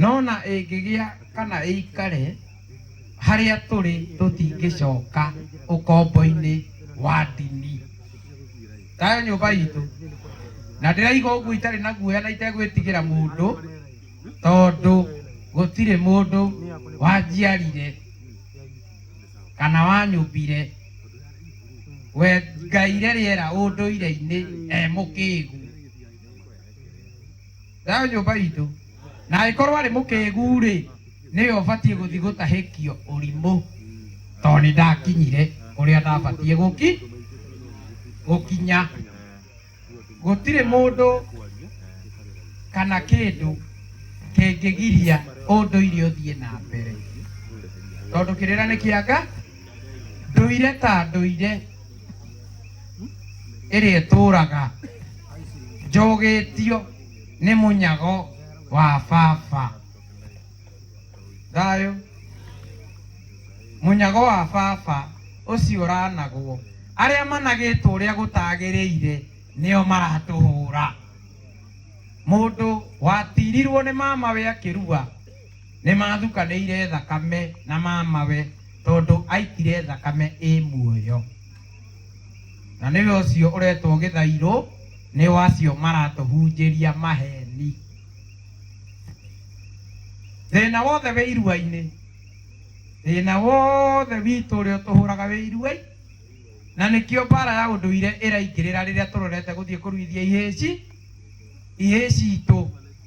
no na ĩngĩgĩa kana ĩikare harĩa tũrĩ tũtingĩcoka ũkombo-inĩ wa ndini tayo nyũmba itũ na ndĩraiga ũguo itarĩ na guoya na itegwĩtigĩra mũndũ tondũ gũtirĩ mũndũ wanjiarire kana wanyũmbire we ngaire rĩera ũndũire-inĩ e mũkĩgu Thayũ nyũmba itũ. Na angĩkorwo arĩ mũkĩgu-rĩ, nĩwe ũbatiĩ gũthiĩ gũtahĩkio ũrimũ tondũ nĩndakinyire kũrĩa ndabatiĩ gũki gũkinya. Gũtirĩ mũndũ kana kĩndũ kĩngĩgiria ũndũire ũthiĩ na mbere tondũ kĩrĩra nĩ kĩa Nga, ndũire ta ndũire. ĩrĩtũũraga njũgĩtio nĩ mũnyago wa baba thayũ mũnyago wa baba ũcio ũranagwo arĩa managĩtwo ũrĩa gũtagĩrĩire nĩo maratũhũra mũndũ watirirwo nĩ mamawe akĩrua Nĩmathukanĩire thakame na mamawe tondũ aikire thakame ĩ muoyo. Na nĩwe ũcio ũretwo gĩthairũ nĩ wa acio maratũhunjĩria maheni. Thĩna wothe wĩ irua-inĩ, thĩna wothe witũ ũrĩa ũtũhũraga wĩ irua-inĩ. Na nĩkĩo mbara ya ũndũire ĩraingĩrĩra rĩrĩa tũrorete gũthiĩ kũruithia ihĩĩ ci, ihĩĩ citũ.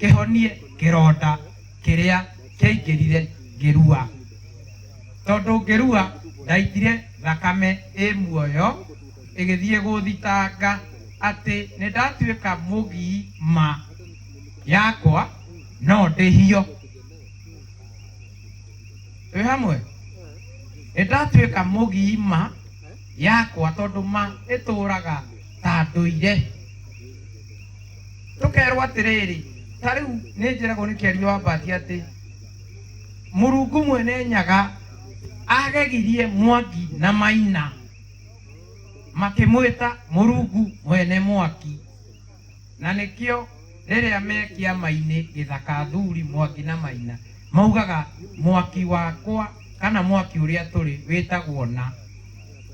kĩhonie kĩronda kĩrĩa kĩaingĩrire ngĩrua tondũ ngĩrua ndaitire thakame ĩ muoyo ĩgĩthiĩ gũthitanga atĩ nĩ ndatuĩka mũgii ma yakwa no ndĩhio twĩ hamwe nĩ ndatuĩka mũgii ma yakwa tondũ ma ĩtũraga ta ndũire tũkerwo atĩrĩrĩ ta rĩu nĩ njĩragwo nĩ kĩario wa mbati atĩ mũrungu mwene nyaga agegirie mwaki na maina makĩmwĩta mũrungu mwene mwaki na nĩkĩo rĩrĩa me kĩama-inĩ gĩthaka athuri mwaki na maina maugaga mwaki wakwa kana mwaki ũrĩa tũrĩ wĩtagwo na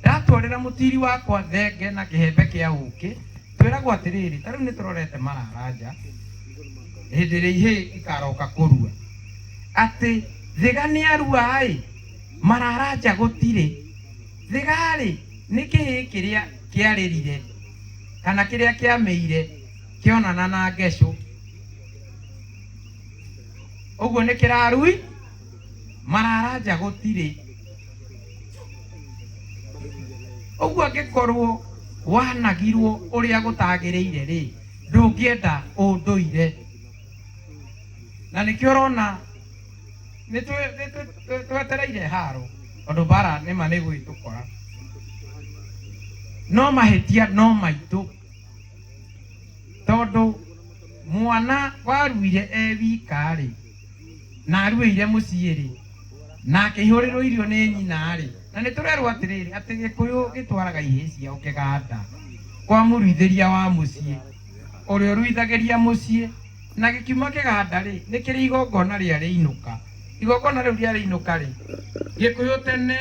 Ndatwarĩra mũtiiri wakwa thenge na kĩhembe kĩa ũũkĩ, twĩragwo atĩrĩrĩ, ta rĩu nĩtũrorete mararanja hĩndĩ ĩrĩa ihĩĩ ikaroka kũrua. Atĩ thĩga nĩarua-ĩ, mararanja gũtirĩ. Thĩga-rĩ, nĩ kĩhĩĩ kĩrĩa kĩarĩrire kana kĩrĩa kĩamĩire kĩonana na ngecũ, ũguo nĩkĩrarui. marara nja gũtirĩ ũguo angĩkorwo wanagirwo ũrĩa gũtagĩrĩire rĩ ndũngĩenda ũndũire na nĩkĩo ũrona nĩ twĩ- nĩ twĩ- twĩ- twetereire haro tondũ mbara nĩma nĩ gwĩtũkora no mahĩtia no maitũ tondũ mwana waruire e wika rĩ na aruĩire mũciĩ-rĩ, na akĩihũrĩrwo irio nĩ nyina-rĩ, na nĩ tũrerwo atĩrĩrĩ, atĩ Gĩkũyũ gĩtwaraga ihĩĩ ciao kĩganda kwa mũruithĩria wa mũciĩ, ũrĩa ũruithagĩria mũciĩ, na gĩkiuma kĩganda-rĩ, nĩ kĩrĩ igongona rĩa rĩinũka, igongona rĩu rĩa rĩinũka-rĩ, Gĩkũyũ tene,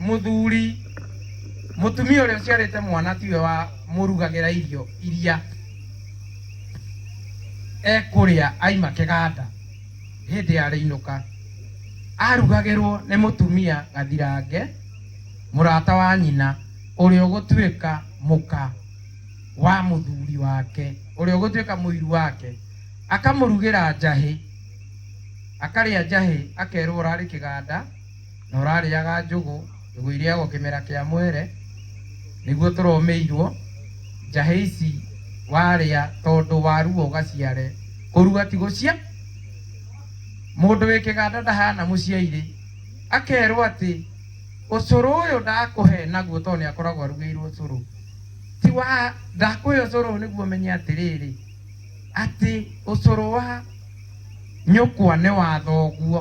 mũthuri mũtumia ũrĩa ũciarĩte mwana tiwe wa mũrugagĩra irio iria ekũrĩa aima kĩganda hĩndĩ ya rĩinũka arugagĩrwo nĩ mũtumia gathirange mũrata wa nyina ũrĩa ũgũtuĩka mũka wa mũthuri wake ũrĩa ũgũtuĩka mũiru wake akamũrugĩra njahĩ akarĩa njahĩ akerwo ũrarĩ kĩganda na ũrarĩaga njũgũ, njũgũ irĩagwo kĩmera kĩa mwere, nĩguo tũromĩirwo, njahĩ ici warĩa tondũ warua ũgaciare, kũrua ti gũcia, mũndũ wĩ kĩganda ndahana mũciairĩ, akerwo atĩ ũcũrũ ũyũ ndakũhe naguo tondũ nĩ akoragwo arugĩirwo ũcũrũ, ti wa, ndakũhe ũcũrũ ũyũ nĩguo ũmenye atĩrĩrĩ, atĩ ũcũrũ wa nyũkwa nĩ wa thoguo.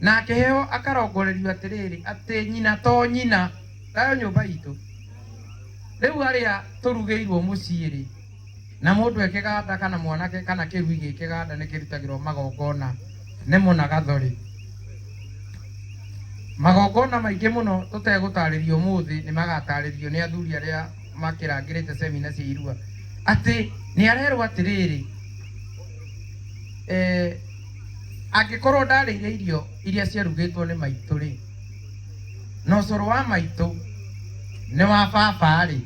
Na akĩheo akarongorerio atĩrĩrĩ, atĩ nyina to nyina. Tayo nyũmba itũ. Rĩu arĩa tũrugĩirwo mũciĩ-rĩ, na mũndũ e kĩganda kana mwanake kana kĩrui gĩ kĩganda nĩ kĩrutagĩrwo magongona nemo na gatho-rĩ, magongona maingĩ mũno tũtegũtarĩria ũmũthĩ nĩ magatarĩrio nĩ athuri arĩa makĩrangĩrĩte cemina cia irua. Atĩ nĩ arerwo atĩrĩrĩ, e, Angĩkorwo ndarĩire irio iria ciarugĩtwo nĩ maitũ-rĩ, na ũcũrũ wa maitũ nĩ wa baba-rĩ,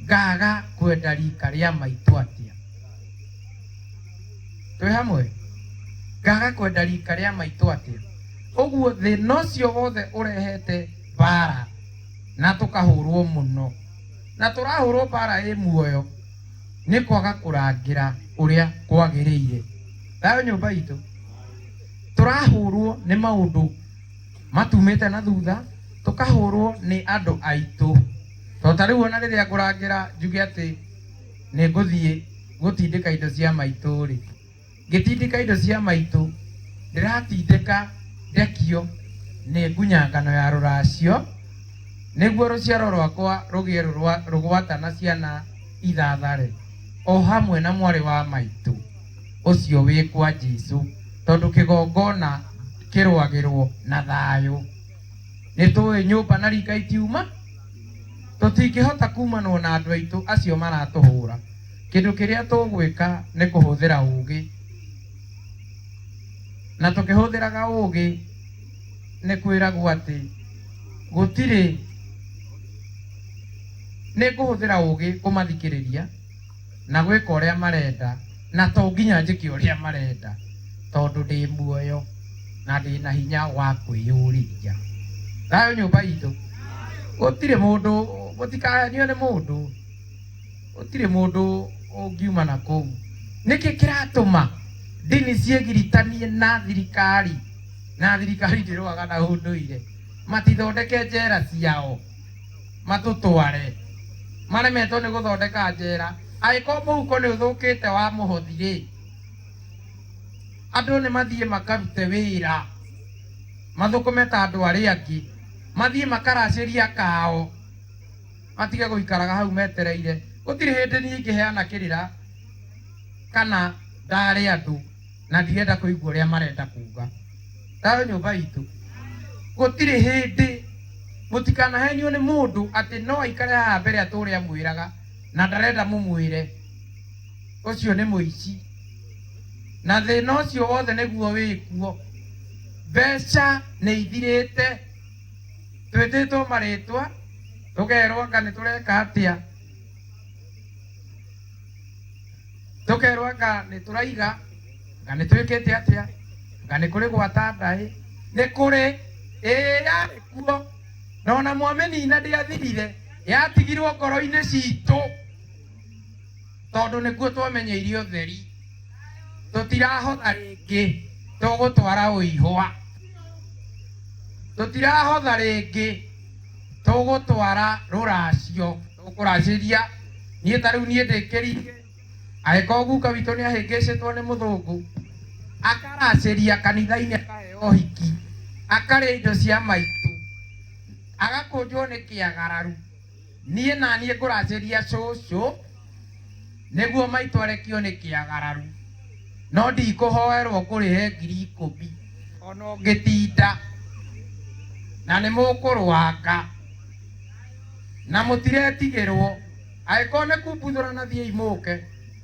ngaaga kwenda riika rĩa maitũ atĩa? Twĩ hamwe? Ngaaga kwenda riika rĩa maitũ atĩa? Ũguo thĩna ũcio wothe ũrehete mbaara na tũkahũrwo mũno, na tũrahũrwo mbaara ĩ muoyo. nĩ kwaga kũrangĩra ũrĩa kwagĩrĩire thayo nyũmba itũ tũrahũrwo nĩ maũndũ matumĩte na thutha tũkahũrwo nĩ andũ aitũ to ta rĩu ona rĩrĩa ngũrangĩra njuge atĩ nĩ ngũthiĩ gũtindĩka indo cia maitũ rĩ Ngĩtindĩka indo cia maitũ, ndĩratindĩka ndekio nĩ ngunya ngano ya rũracio, nĩguo rũciaro rwakwa rũgĩe rũgwata na ciana ithathare, o hamwe na mwarĩ wa maitũ ũcio wĩkwa Jesu, tondũ kĩgongona kĩrũagĩrwo na thayũ. Nĩtũĩ nyũmba na riika itiuma, tũtingĩhota kumanwo na andũ aitũ acio maratũhũra. Kĩndũ kĩrĩa tũgwĩka nĩ kũhũthĩra ũũgĩ. Na tũkĩhũthĩraga ũũgĩ nĩ kwĩragwo atĩ gũtirĩ, nĩ ngũhũthĩra ũũgĩ kũmathikĩrĩria na gwĩka ũrĩa marenda na to nginya njĩke ũrĩa marenda tondũ ndĩ muoyo na ndĩ na hinya wa kwĩyũrĩria. Thayũ nyũmba itũ. Gũtirĩ mũndũ, mũtikahenio nĩ mũndũ. Gũtirĩ mũndũ ũngiuma na kũu. Nĩkĩ kĩratũma ndini ciĩgiritanie na thirikari, na thirikari ndĩrũaga na ũndũire? Matithondeke njera ciao matũtware. Maremetwo nĩ gũthondeka njera. Angĩkorwo mũhuko nĩ ũthũkĩte wa mũhothi rĩ, andũ nĩ mathiĩ makarute wĩra, mathũkũme ta andũ arĩa angĩ. Mathiĩ makaracĩrie akao. matige gũikaraga hau metereire. Gũtirĩ hĩndĩ niĩ ingĩheana kĩrĩra kana ndaare andũ na ndirenda kũigua ũrĩa marenda kuuga. Ndaare nyũmba itũ. Gũtirĩ hĩndĩ, mũtikanahenio nĩ mũndũ atĩ no aikare haha mbere atũũre amwĩraga na ndarenda mũmwĩre. Ũcio nĩ mũici. Na thĩna ũcio wothe nĩguo wĩkuo. Mbeca nĩ ithirĩte. Twĩtĩtwo marĩtwa, tũkerwo anga nĩ tũreka atĩa, tũkerwo anga nĩ tũraiga, anga nĩ twĩkĩte atĩa, anga nĩ kũrĩ gwata ndaĩ, nĩ kũrĩ, ĩĩ yarĩ kuo, na ona mwamĩnina ndĩathirire, yatigirwo ngoro-inĩ citũ. tondũ nĩkuo twamenyeire ũtheri tũtirahotha rĩngĩ tũgũtwara ũihwa tũtirahotha rĩngĩ tũgũtwara rũracio tũkũracĩria niĩ ta rĩu niĩ ndĩkĩrige agĩkorwo guka witũ nĩ ahĩngĩcĩtwo nĩ mũthũngũ akaracĩria kanitha-inĩ akaheo ũhiki akarĩa indo cia maitũ agakũnjwo nĩ kĩagararu Niĩ naniĩ ngũracĩria cũcũ nĩguo maitũ arekio nĩ kĩagararu no ndikũhoerwo ngũrĩhe ngiri ikũmi ona ũngĩtinda na nĩ mũkũrwanga na mũtiretigĩrwo, angĩkorwo nĩ kumbuthũrana thiĩi mũke.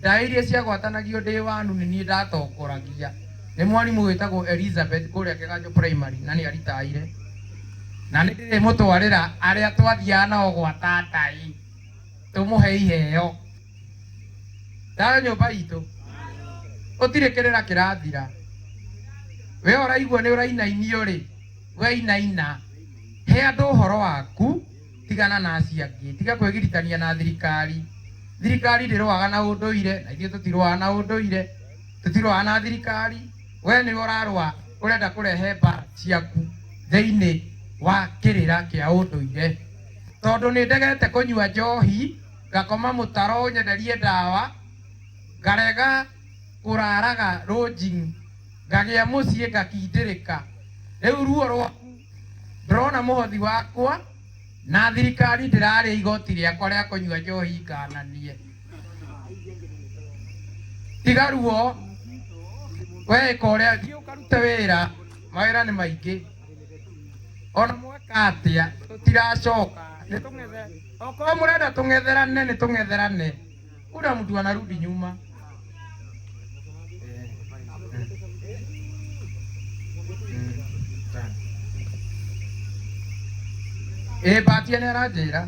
Ndaĩ iria ciagwatanagio ndĩ wanu nĩ niĩ ndatongoragia. Nĩ mwarimũ wĩtagwo Elizabeth kũrĩa Kĩganjo Primary na nĩ aritaire. Na nĩ ndĩrĩmũtwarĩra arĩa twathiaga nao gwata ndaĩ tũmũhe iheo. Thayũ nyũmba itũ. Gũtirĩ kĩrĩra kĩrathira. Wee ũraigua nĩ ũrainainio rĩ, we inaina. He andũ ũhoro waku. Tigana na acio angĩ. Tiga kwĩgiritania na thirikari. Thirikari ndĩrũaga na ũndũire, na ithuĩ tũtirũaga na ũndũire. Tũtirũaga na thirikari. Wee nĩwe ũrarũa, ũrenda kũrehe mbara ciaku thĩinĩ wa kĩrĩra kĩa ũndũire. Tondũ nĩ ndegete kũnyua njohi, ngakoma mũtaro ũnyenderie ndawa, ngarega kũraraga lodging, ngagĩa mũciĩ ngakindĩrĩka. Rĩu ruo rwaku. Ndĩrona mũhothi wakwa na thirikari ndĩrarĩa igoti rĩakwa rĩa kũnyua njohi ikananie. Tiga ruo, we ĩka ũrĩa, thiĩ ũkarute wĩra, mawĩra nĩ maingĩ. Ona mweka atĩa tũtiracoka, nĩ tũng'ethe, okorwo mũrenda tũng'etherane nĩ tũng'etherane. Kuna mtu anarudi nyuma. Eh, mm. Mm, tano. Ĩ mbatia nĩ aranjĩra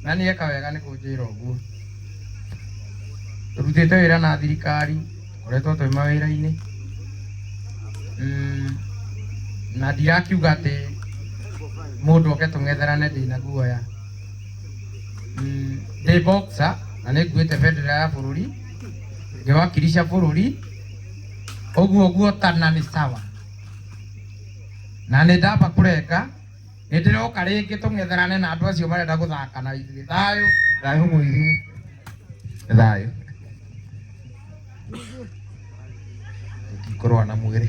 na nĩ eka wega nĩ kũnjĩra ũguo tũrutĩte wĩra na thirikari tũkoretwo twĩ mawĩra-inĩ Mm, na ndirakiuga atĩ mũndũ oke tũng'etherane ndĩna guoya Mm, ndĩ boxer na nĩ nguĩte bendera ya bũrũri ngĩwakilisha bũrũri ũguo guotana nĩ sawa na nĩ ndamba kũrenga nĩ ndĩroka rĩngĩ tũng'etherane na andũ acio marenda gũthaka na ithuĩ thayũ thayũ mũiru thayũ ngĩkorwo na mwĩrĩ